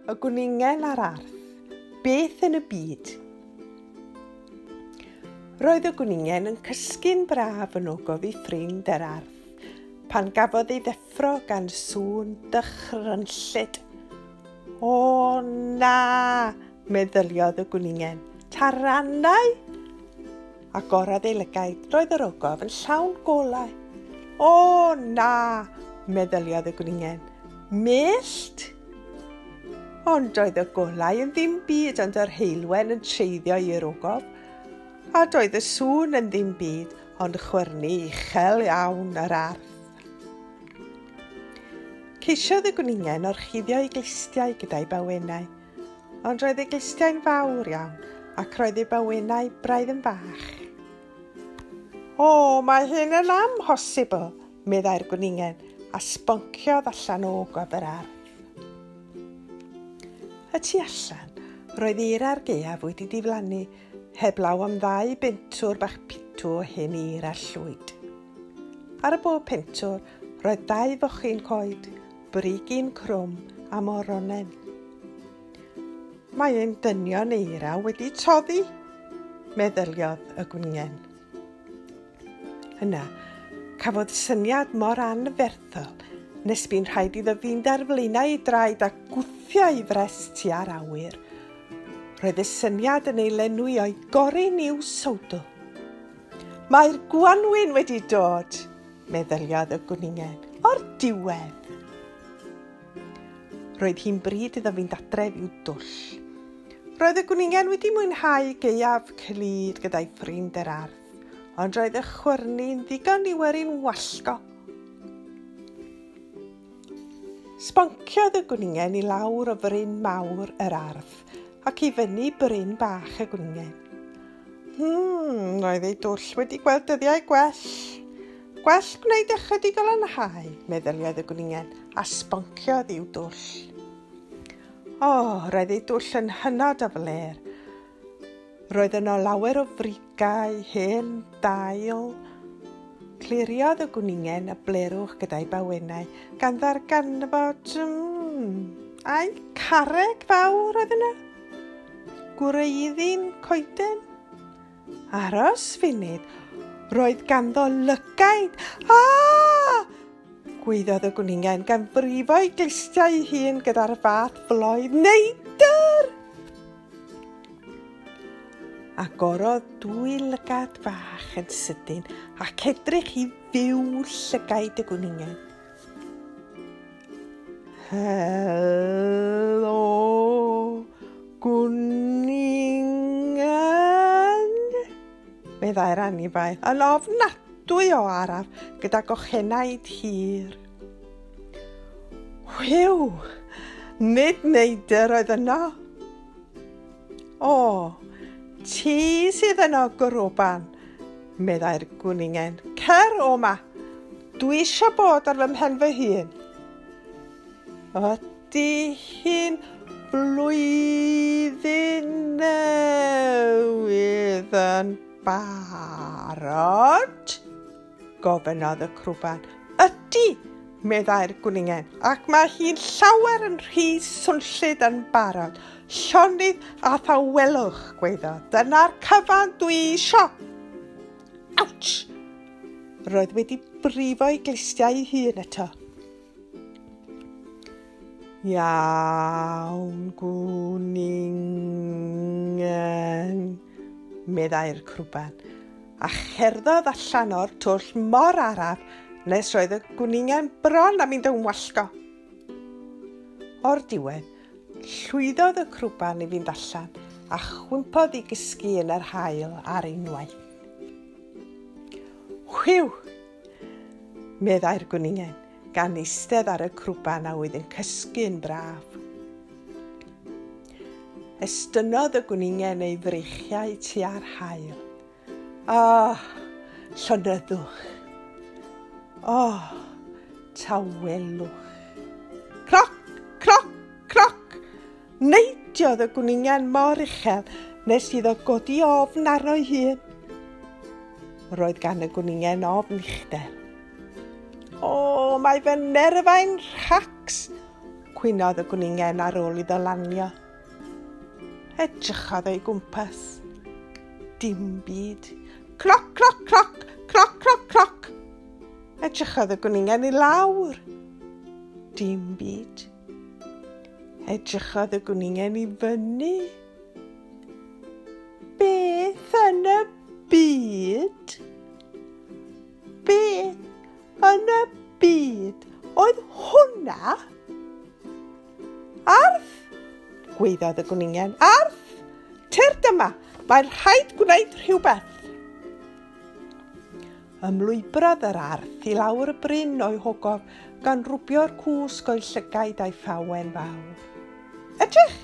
Y gwningen a'r arth. Beth yn y byd? Roedd y gwningen yn cysgu'n braf yn ogof i ffrind yr arth pan gafodd ei ddeffro gan sŵn dychrynllyd. O na! Meddyliodd y gwningen, Taranau! Agorad ei lygaid, roedd yr ogof yn llawn golau. O, na! meddyliodd y gwningen. Mellt! Ond oedd y golau yn ddim byd ond yr heilwen yn treiddio i'r ogof, a doedd y sŵn yn ddim byd ond chwyrnu uchel iawn yr arth. Ceisiodd y gwningen orchuddio ei glustiau gyda'i bawenau, Ond roedd ei glustiau'n fawr iawn ac roedd ei bywynau braidd yn fach. O, mae hyn yn amhosibl, meddai'r gwningen, a sbonciodd allan o gwab yr ardd. Y tu allan, roedd i'r ar gaeaf wedi diflannu, heblaw am ddau bentwr bach pitw o hen ir a llwyd. Ar y bob pentwr, roedd dau fochyn coed, Brigyn crwm a moronen. Mae ein dynion eira wedi toddi, meddyliodd y gwningen. Yna, cafodd syniad mor anferthol nes bu'n rhaid iddo fynd ar flaenau ei draed a gwthio ei fres tua'r awyr. Roedd y syniad yn ei lenwi o'i gorin i'w sowdl. Mae'r gwanwyn wedi dod! meddyliodd y gwningen o'r diwedd. Roedd hi'n bryd iddo fynd adref i'w dwll. Roedd y gwningen wedi mwynhau gaeaf clyd gyda'i ffrind yr ardd, ond roedd y chwyrni'n ddigon i werin wallgo. Sbonciodd y gwningen i lawr o fryn mawr yr ardd ac i fyny bryn bach y gwningen. Hmm, roedd ei dwll wedi gweld dyddiau gwell. Gwell gwneud ychydig o lanhau, meddyliodd y gwningen, a sbonciodd i'w dwll. O, oh, roedd ei dwll yn hynod o fler. Roedd yno lawer o frigau, hen dail. Cliriodd y gwningen y blerwch gyda'i bawenau, gan ddarganfod... Mm, ai carreg fawr oedd yna? Gwreiddyn coeden? Aros funud, roedd ganddo lygaid. Ah! Gweiddodd y gwningen gan frifo'i glustiau ei hun gyda'r fath floedd. Neidr! Agorodd dwy lygad fach yn sydyn ac edrych i fyw llygaid y gwningen. Helo, gwningen, meddai'r anifail yn ofnadwy o araf gyda gochenaid hir. Whew! Nid neidr oedd yno. O, ti sydd yno, gwrwban, meddai'r gwningen. Cer o ma. Dwi eisiau bod ar fy mhen fy hun. Ydy hi'n flwyddyn newydd yn barod? Gofynnodd y crwban. Ydy, meddai'r gwningen, ac mae hi'n llawer yn rhy swnllyd yn barod. Llonydd a thawelwch, gweiddo, dyna'r cyfan dwi isio. Ouch! Roedd wedi brifo'i glistiau ei hun eto. Iawn, gwningen. meddai'r crwban, a cherddodd allan o'r twll mor araf nes roedd y gwningen bron am mynd yn wallgo. O'r diwedd, llwyddodd y crwban i fynd allan a chwympodd i gysgu yn yr hael ar unwaith. Hwiw! meddai'r gwningen, gan eistedd ar y crwban a oedd yn cysgu yn braf. Estynnodd y gwningen ei freichiau tua'r haul. O, oh, llonyddwch! O, oh, tawelwch! Croc, croc, croc! Neidiodd y gwningen mor uchel nes iddo godi ofn arno'i hun. Roedd gan y gwningen ofn uchder. O, mae fy nerfau'n rhacs, cwynodd y gwningen ar ôl iddo lanio. Edrychodd o'i gwmpas. Dim byd. Cloc, cloc, cloc, cloc, cloc, cloc. Edrychodd y gwningen i lawr. Dim byd. Edrychodd y gwningen i fyny. Beth yn y byd? Beth yn y byd oedd hwnna? Arth! Gweiddodd y gwningen. Arth! Tyrd yma! Mae'n rhaid gwneud rhywbeth! Ymlwybrodd yr arth i lawr y bryn o'i hogof, gan rwbio'r cwsg o'i llygaid a'i thawen fawr. Edrych!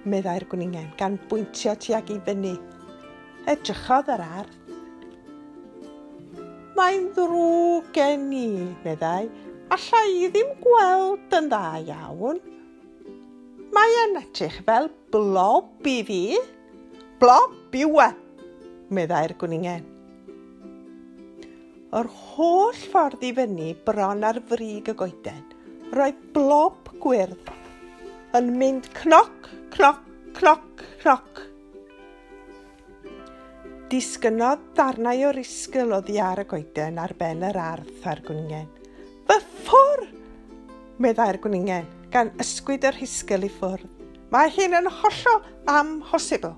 meddai'r gwningen, gan bwyntio tuag i fyny. Edrychodd yr arth. Mae'n ddrwg gen i, meddai. Alla i ddim gweld yn dda iawn. Mae'n edrych fel blob i fi. Blop yw e, meddai'r gwningen. Yr holl ffordd i fyny bron ar frig y goeden, roedd blop gwyrdd yn mynd cnoc, cnoc, cnoc, cnoc. Disgynodd darnau o risgl oddi ar y goeden ar ben yr ardd a'r gwningen. Fy ffwr! meddai'r gwningen, gan ysgwyd y rhisgl i ffwrdd. Mae hyn yn hollol amhosibl!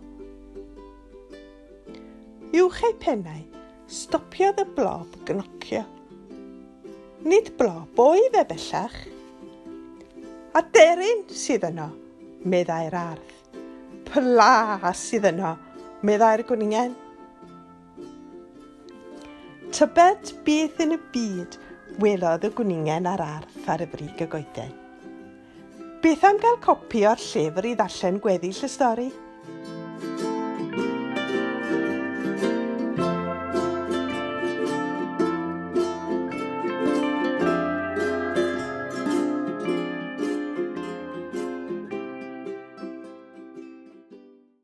Uwch ei pennau, stopiodd y blob gnocio. Nid blob oedd e bellach. Aderyn sydd yno, meddai'r ardd. Pla sydd yno, meddai'r gwningen. Tybed beth yn y byd welodd y gwningen ar arth ar y brig y goeden? Beth am gael copi o'r llyfr i ddarllen gweddill y stori?